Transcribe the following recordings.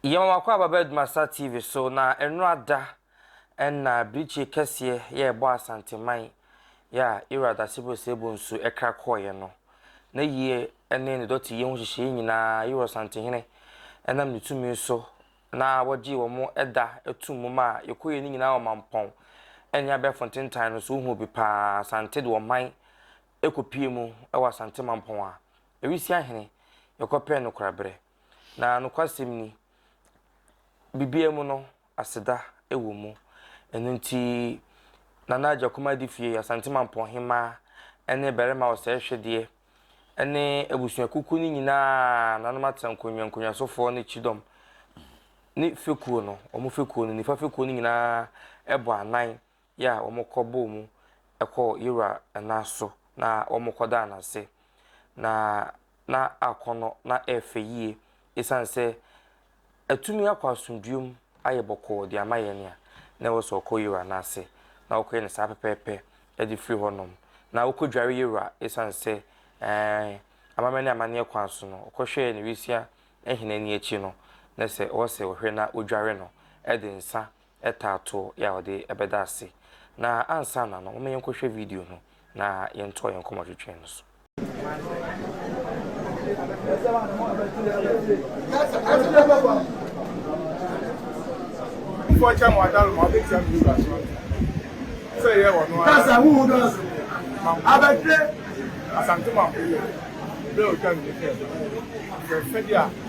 Yɛma wakɔ aba bɛ adwuma Star TV so na ɛnora da ɛna birikyie kɛseɛ yɛ ɛbɔ Asanteman yɛ a Ira Dasebo Sebo nsu ɛkra kɔɔeɛ no. Ne yie ɛne ne dɔte yie ho hyehyeeɛ nyinaa Ira Ɔsantehene ɛnam ne tumi so na wɔgyee wɔn ɛda ɛtum mu maa yɛkɔɔeɛ no nyinaa wɔ Mampɔn ɛne abɛɛfo ntentan no so wohuu bi paa Asante de ɔman ɛkɔpue mu ɛwɔ Asante Mampɔn a ɛresi ahene yɛkɔpɛɛ no koraberɛ Na nokwasɛm ni, biribiara mu no, aseda wɔ mu. Ɛno nti, Nana Agya Kumaa Adifie, Asante Mampɔn Hemmaa, ne Barima Ɔsɛe Hwedeɛ, ne abusuakuku no nyinaa, nanom atena nkonnwa nkonnwasofoɔ ne kyidɔm ne fekuo no, wɔn fekuo no, nifa fekuo no nyinaa bɔ anan yɛ a wɔkɔbɔɔ mu kɔɔ Yehowa nan so na wɔkɔdaa no ase. Na na akɔnnɔ na ɛyɛ fɛ yie ɛsiane sɛ atumi akɔ asomdwoeɛ mu ayɛ bɔkɔɔ de ama yɛn a na ɛwɔ sɛ ɔkɔ Yehowa nan ase na ɔkɔyɛ no saa pɛpɛɛpɛ de firi hɔnom na ɔkɔdware Yehowa ɛsiane sɛ ɛɛ amammerɛ ne amanneɛ kwan so no ɔkɔhwɛɛ ne Risia hene ani akyi no na sɛ ɔwɔ sɛ ɔhwɛ na ɔdware no de nsa taa to yɛ a wɔde bɛda ase. Na ansa na no, momma yɛnkɔhwɛ video no na yɛntoa yɛn nkɔmɔtwetwe no so. Asante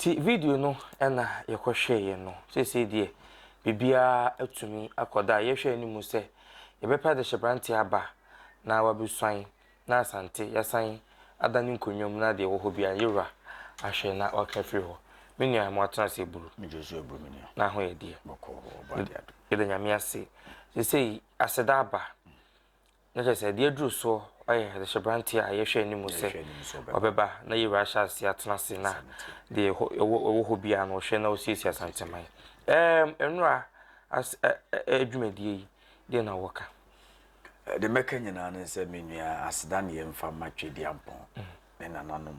Ti video no na yɛkɔhwɛeɛ no. Seesei deɛ, biribiara atumi akɔ do a yɛhwɛ anim sɛ yɛbɛpɛ adehyebrante aba na wɔabesuan na Asante yɛasan ada ne nkonnwa mu na deɛ ɛwɔ hɔ biara yewura ahwɛ na wɔaka afiri hɔ. Me nua, mo atena ase aburu. Me Josué aburu me nua. N'aho yɛ deɛ. Bɔkɔɔ, ɔbɔ adeɛ ado. Yɛda Nyame ase. Seesei aseda aba. na kyerɛ sɛ deɛ aduru soɔ ayɛ adehyɛbranteɛ a yɛhwɛ anim sɛ ɔbɛba na yɛwura ahyɛ ase atena ase na deɛ ɛwɔ hɔ biara no ɔhwɛ na ɔsiesie asanteman ɛɛm nnora as adwumadie yi deɛ na wɔka de mɛka nyinaa ne sɛ me nua aseda ne yɛmfa ma twediampɔn mm. ne nananom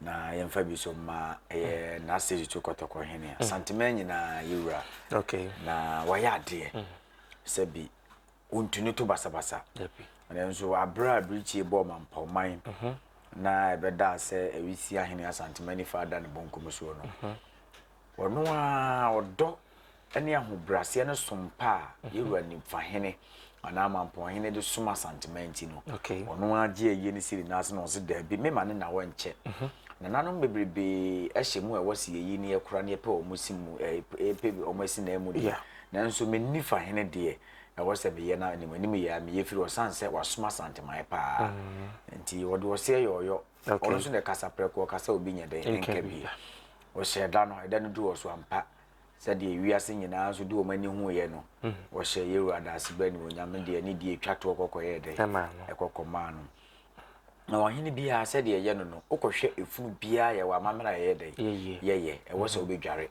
na yɛmfa bi so ma ɛyɛ mm. n'ase tutu kɔtɔkɔ hene mm. asanteman nyinaa yɛwura na wɔyɛ adeɛ sɛ bi ɔntu no to basabasa nanso aberɛ a birikyie bɔɔ mampɔman mhm. na ɛbɛdaa sɛ ɛresi ahene asantema nifa ada ne bonkum soɔ no mhm. ɔno a ɔdɔ ne ahobraseɛ no som pa a mhm. yɛwura nifa hene anaa mampɔn hene de som asantema nti no ɔno a gye ayie no siri n'ase na ɔse daabi mema ne nawɔ nkyɛ nananom bebrebe ahyɛ mu a ɛwɔ sɛ yɛyi ne yɛkora ne yɛpɛ wɔn si mu ɛpɛ wɔn asi na ɛmu deɛ Nanso me Nifa hene deɛ ɛwɔ sɛ meyɛ no animanim yɛ a meyɛ firi ɔsane sɛ wasom Asanteman paa nti ɔde ɔseɛ yɛ ɔyɔ ɔno nso na ɛkasa prɛko ɔkasa obi nyɛ dɛn nka bi ɔhyɛ ɛda no ɛda no du wɔ so ampa sɛdeɛ wiase nyinaa nso de wɔn ani huiɛ no ɔhyɛ yɛwura adaase bɛ ne onyame deɛ ne deɛ ɛtwa toɔ kɔkɔ yɛ dɛn ɛkɔkɔ maa no na ɔhene biara sɛdeɛ ɛyɛ no no wokɔhwɛ efunu biara yɛwɔ amammerɛ a ɛyɛ dɛn yɛyɛ ɛwɔ sɛ wobɛdware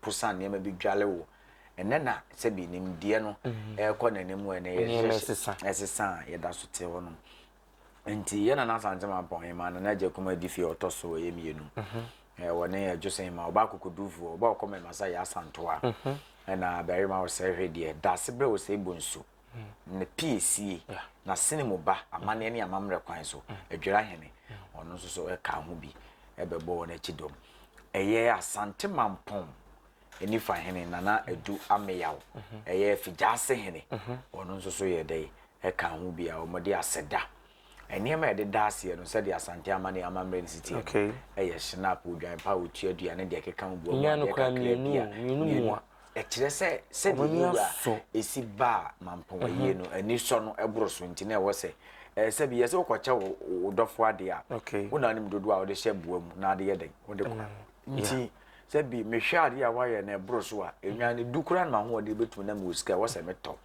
po sa nneɛma bi dwale wo ɛnɛ na sɛbi nimdeɛ no mm-hmm. ɛrekɔ n'anim wɔ ɛnɛ yɛsesa a yɛda so te hɔ nom nti yɛ nana asante ma pɔn yɛ ma nana agya kuma adi fie ɔtɔ so ɛyɛ mmienu mm-hmm. wɔ ne yɛ jose ma ɔba akokodufoɔ ɔba ɔkɔ mɛma sa yɛ asantoa mm-hmm. ɛna barima ɔsɛ hwɛ deɛ daase berɛ ɔsɛ bu nsu ne piesie n'asene mu ba amanneɛ ne amammerɛ kwan so adwira hene ɔno nso so ɛka ho bi ɛbɛbɔ wɔn akyi dɔm ɛyɛ asante mampɔn anifa hene nana adu ameyaw mhm. ɛyɛ figyaase hene mhm. ɔno nso so yɛ dɛ ɛka ho bi a wɔde asɛda nneɛma a yɛde da aseɛ no sɛdeɛ asante ama ne amammerɛ no siteɛ no ɛyɛ snap odwan pa otua aduane deɛ ɛkeka ho boa mu adeɛ kakra bi a mmienu Ɛkyerɛ sɛ sɛdeɛ yɛn wura ɛsi baa mampɔnwayie no ani sɔ no ɛboro so nti na ɛwɔ sɛ sɛ bi yɛ sɛ wokɔkyɛ wo dɔfo adeɛ a wo na wonim dodoɔ a wode hyɛ boa mu na ade yɛ dɛn wode kora mm. nti sɛ bi mehwɛ adeɛ a woayɛ no ɛboro so a ɛnwa no du koraa no mahoɔden bɛtumi na mewɔ sika ɛwɔ sɛ metɔ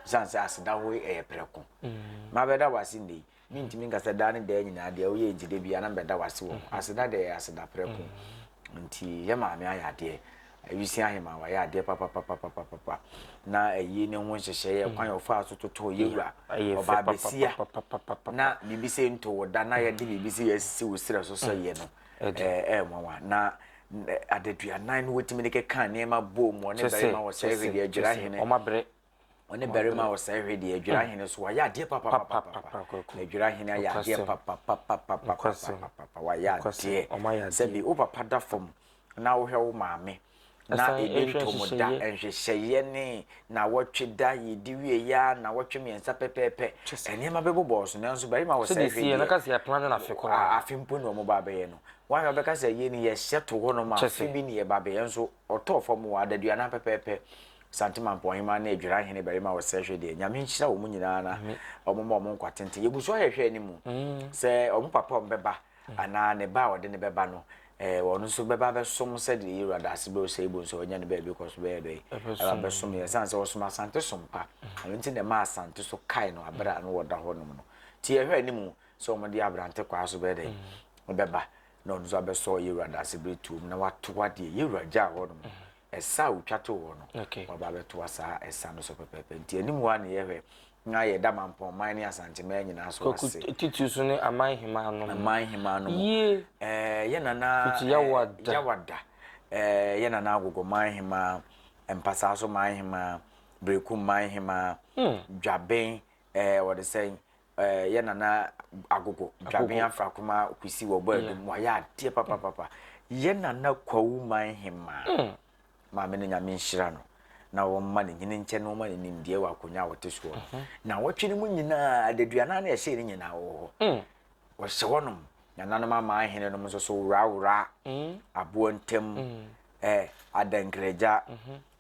sane sɛ aseda hɔ ɛyɛ prɛko mm. mabɛda wase nnei Mintumi nka sɛ daa ne daa nyinaa deɛ woyɛ nti da biara na mebɛda wo ase wɔ ho. Aseda deɛ ɛyɛ aseda prɛko. Nti yɛ maame ayɛ adeɛ. Awisi Aheman wayɛ adeɛ papapapapapa. Na ayi ne ho nhyehyɛeɛ kwan a ɔfaa so totoo yɛ wura ɔbaa besia na biribi sɛ nto wo da na yɛde biribi sɛ yɛasisi wo serɛ so sɛ yɛ no ɛyɛ nwanwa na adaduanan no wɔtumi de keka nneɛma bom wɔ ne barima wɔ sɛ ɛsɛ deɛ adwira hene ɔne barima a ɔsɛe hwɛ deɛ adwira hene so wayɛ adeɛ papapapapa na adwira hene ayɛ adeɛ papapapapapapapa wayɛ adeɛ sɛbi wo papa da fam na wohwɛ wo maame na ɛdi ntomu da nhwehwɛeɛ ne na wɔtwe da yɛdi wie ya na wɔtwe mmiɛnsa pɛpɛɛpɛ nneɛma bɛbobɔɔ so nanso barima wɔ sɛ hwɛ deɛ afe mpo ne ɔmo ba bɛyɛ no wɔn a wɔbɛka sɛ yɛ ne yɛhyɛ to hɔ nom afe bi ne yɛ ba bɛyɛ nso ɔtɔɔ fam wɔ adaduana pɛpɛɛpɛ Santeman Pɔnheman ne Adwira Hene barima wɔ Sɛhwɛ deɛ, Nyame nhyira wɔn nyinaa na wɔn ma wɔn nkwa tenten. Yɛgu so ahwɛhwɛ anim mm. sɛ wɔn papa wɔn bɛba mm. anaa ne ba a ɔde ne bɛba no eh, wɔn nso bɛba abɛsom sɛdeɛ yɛwura daase bɛ ɔsɛ ibo nso ɔnya ne baabi kɔ so bɛyɛ dɛ abɛsom yɛ sane sɛ ɔsom asante so mpa mm. ɛno nti na ɛma asante so kae no aberɛ a no wɔda hɔ nom no nti yɛhwɛ anim sɛ wɔde aberante kwaa so bɛyɛ dɛ ɔbɛba na ɔno nso abɛsɔ yɛwura daase bere tuom na watoa deɛ yɛwura gyaa hɔ nom ɛsa a wotwa to hɔ no waba bɛtoa saa ɛsa no so pɛpɛɛpɛ nti anim hɔ a na yɛhwɛ na yɛda mampɔn man ne asanteman nyinaa so ase titiri so ne aman hemaa no aman hemaa no yie ɛɛ yɛ nana yawada yawada ɛɛ yɛ nana agogo man hemaa mpasaa so man hemaa bereku man hemaa hmm. dwaben ɛɛ wɔde sɛn eh, yɛ nana agogo dwaben afrakoma kwesi wɔ bɔ adum wayɛ adeɛ papapapa yɛ nana kwawu man hema mm. maame no nyame nhyira no na wɔmma ne nyini nkyɛ na wɔma ne nimdeɛ wɔ akonnwa a wɔte soɔ mhm. na wɔtwe no mu nyinaa adaduana na ɛhyɛ ne nyinaa wɔ hɔ mm. wɔhyɛ hɔnom nananom ama ahene nom nso so worawora mm. aboɔ ntam eh, adankragya mhm.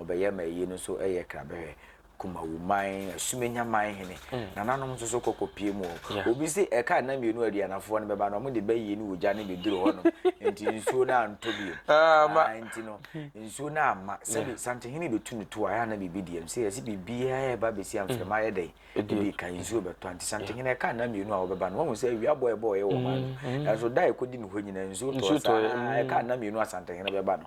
Wɔbɛyɛ ma eyi no so yɛ krabɛhwɛ, Kumawu man, Asumenya man hene. Mm. Nananom nso so kɔkɔ pie mu hɔ. Yeah. Obi se ɛka nna mmienu a aduanafoɔ no bɛba no, wɔn de bɛyie ne ogya no bɛduru hɔnom, nti nsuo no antɔ bio. Ah, ma. Ah, nti no, nsuo no amma. Sɛbi Yeah. santehene bɛtu no to a, ɛyɛ a na biribi deɛ no. Sɛ yɛse biribiara a ɛba bɛsi a Mm. mframa ayɛ dɛn? Ɛdi Ebi kan, nsuo bɛtɔ a. Nti Yeah. santehene ɛka nna mmienu a wɔbɛba no, wɔahu sɛ awia bɔ a ɛbɔeɛ wɔ ɔman no. Mm, mm. Nanso da a ɛkɔdi no hɔ nyinaa, nsuo tɔɔ. Nsuo Saa tɔeɛ. ara ɛka Mm. nna mmienu a santehene bɛba no,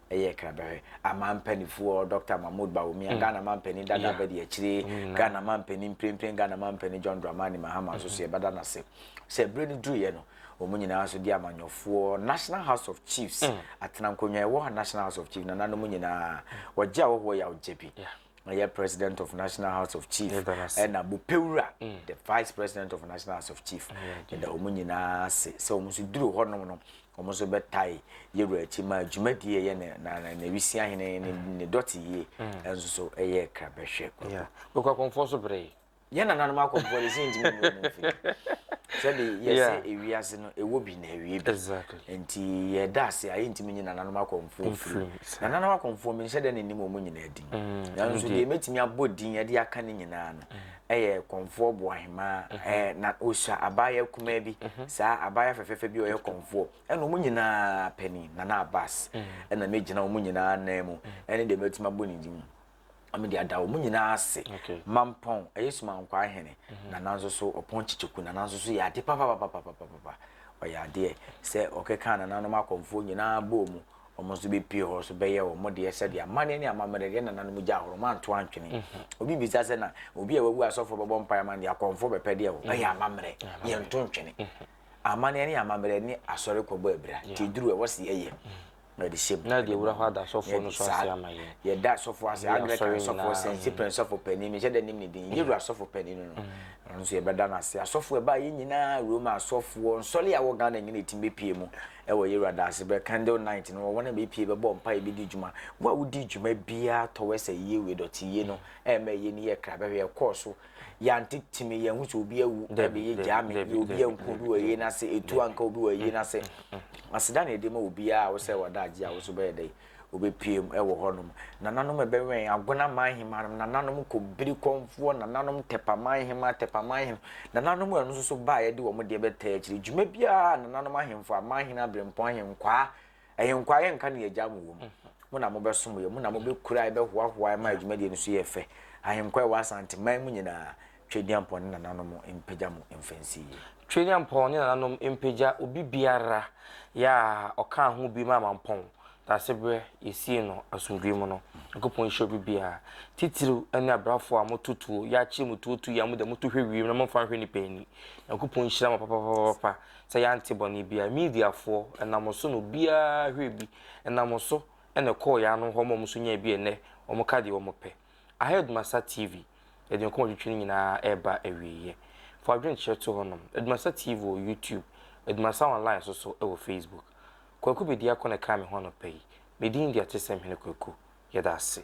ɛyɛ kra bɛhwɛ ama mpanifoɔ dr mahmood bawumia mm. ghana ma mpanin dada yeah. bɛdi akyire mm, ghana ma mpanin mprempren ghana ma mpanin john dramani mahama nso so mm-hmm. yɛbɛda no ase sɛ berɛ no duruiɛ no wɔn nyinaa nso di amanyɔfoɔ national house of chiefs mm. atena nkonnwa ɛwɔ national house of chiefs nananom nyinaa wɔgye a wɔwɔ yɛ awogye bi ɔyɛ president of national house of chief ɛna bopewura mm. the vice president of national house of chief ɛda mm. wɔn nyinaa ase sɛ wɔn nso duru hɔnom no wɔn nso bɛtae yɛwura akyi ma dwumadie ɛyɛ ne na na wisia hene ne mm. ne dɔte yie ɛnso so ɛyɛ krabɛhwɛ. bɛkɔ akɔnfɔ so bere yi. yɛn nananom akɔ mpoa de sɛ ntumi mu mu firi sɛde yɛsɛ ewiase no ɛwɔ bi na ɛwie bi nti yɛda ase a yɛntumi nye nananom akɔmfoɔ firi nananom akɔmfoɔ menhyɛ dɛ ne nim ɔmu nyinaa din mm, nanso deɛ mɛtumi abɔ din ɛde aka ne nyinaa no ɛyɛ kɔmfoɔ boahemaa mm-hmm. na ɔsua abaayɛ kumaa bi mm-hmm. saa abaayɛ fɛfɛfɛ bi ɔyɛ kɔmfoɔ ɛna ɔmu nyinaa panin nana abas mm. ɛna mɛgyina ɔmu nyinaa nan mu mm. ɛne deɛ mɛtumi abɔ ne din na mede ada wɔn nyinaa ase mampɔn ɛyɛ sumankwa ahene mhm. na nanso so ɔpɔn kyekyeku na nanso so yɛ ade papapapapapapa ɔyɛ adeɛ sɛ ɔkeka nananom akɔmfoɔ nyinaa bɔɔ mu wɔn nso bɛpie hɔ so bɛyɛ wɔn deɛ sɛdeɛ amanneɛ ne amammerɛ deɛ nananom gya ahoro manto antwene mhm. obi bisa sɛ na obi a wawu asɔfoɔ bɛbɔ mpae ma no deɛ akɔmfoɔ bɛpɛ deɛ wɔ ɛyɛ mhm. amammerɛ yɛnto ntwene amanneɛ ne amammerɛ ne asɔre kɔbɔ abira nti duru ɛwɔ se yɛyɛ na ɔde hyɛ bɔ de wura hɔ ada sɔfoɔ no so ase ama yɛn yɛda sɔfoɔ ase anglican sɔfoɔ sɛnsipɛn sɔfoɔ panin mehyɛ dɛ nim ne din yɛ wura sɔfoɔ panin no no ɛno nso yɛbɛda no ase asɔfoɔ ɛbaa yɛ nyinaa roma asɔfoɔ nsɔle a wɔ ghana nyina ɛtim bɛpie mu ɛwɔ yɛ wura da ase bɛ candle night no wɔn a bɛpie bɛbɔ mpa yɛbɛdi dwuma wo a wodi dwuma biara tɔwɛ sɛ yie wei dɔte yie no ɛma yɛ ni yɛ kra bɛhwɛ yɛkɔɔ so yɛante timi yɛn ho sɛ obi awu ɛbɛyɛ gyaa me yɛ obi anku obi wɔ yie n'ase etu anka obi wɔ yie n'ase aseda na ɛde ma obiara a wosɛ wada agye a woso bɛyɛ dɛ obɛpiem ɛwɔ hɔnom nananom ɛbɛwɛn agona man hema nom nananom kɔbiri kɔnfoɔ nananom tɛpa man hema tɛpa man hema nananom ɛno nso so baa yɛde wɔn deɛ bɛtaa akyiri dwuma biara nananom ahemfo aman hene abirempɔn ahenkwaa Ahenkwaa yɛnka nea Agya mo wom. Mo na mobɛsom yɛn, mo na mobɛkura yɛn, bɛhoahoa yɛn ma adwumadie no so yɛ fɛ. Ahenkwaa a ɛwɔ Asanteman mu nyinaa, Tweduampɔn ne nananom mpagya mo mfa nsi yie. Tweduampɔn ne nananom mpagya obibiara yɛ a ɔkaa ho bi ma Amampɔn Daasebrɛ yɛsii no asomdwoeɛ mu no. Nyankopɔn nhyira obibiara, titiriw ɛne abrafoɔ a moto tuo, yɛakyere mo tuo tu yi a mode moto hwɛ wiem na momfa nhwɛ nnipa ani. Nyankopɔn nhyira mo papapapapa. sɛ yɛante bɔne biara. Mediafoɔ, ɛnam so na obiara hwerɛɛ bi, ɛnam so na ɛkɔɔ yɛn ano hɔ ma wɔn nso nyaa bi a ɛnnɛ wɔka deɛ wɔpɛ. Aheadmaster TV, yɛde nkɔmmɔ twetwe no nyinaa reba awieeɛ. Fa adwenkyerɛ to hɔnom. Aheadmaster TV wɔ YouTube, Aheadmaster Online nso so wɔ Facebook. Kwaku Bediako na ɛkaa me ho anɔpa yi. Me din de Atesɛmhene Kwaku. Yɛda ase.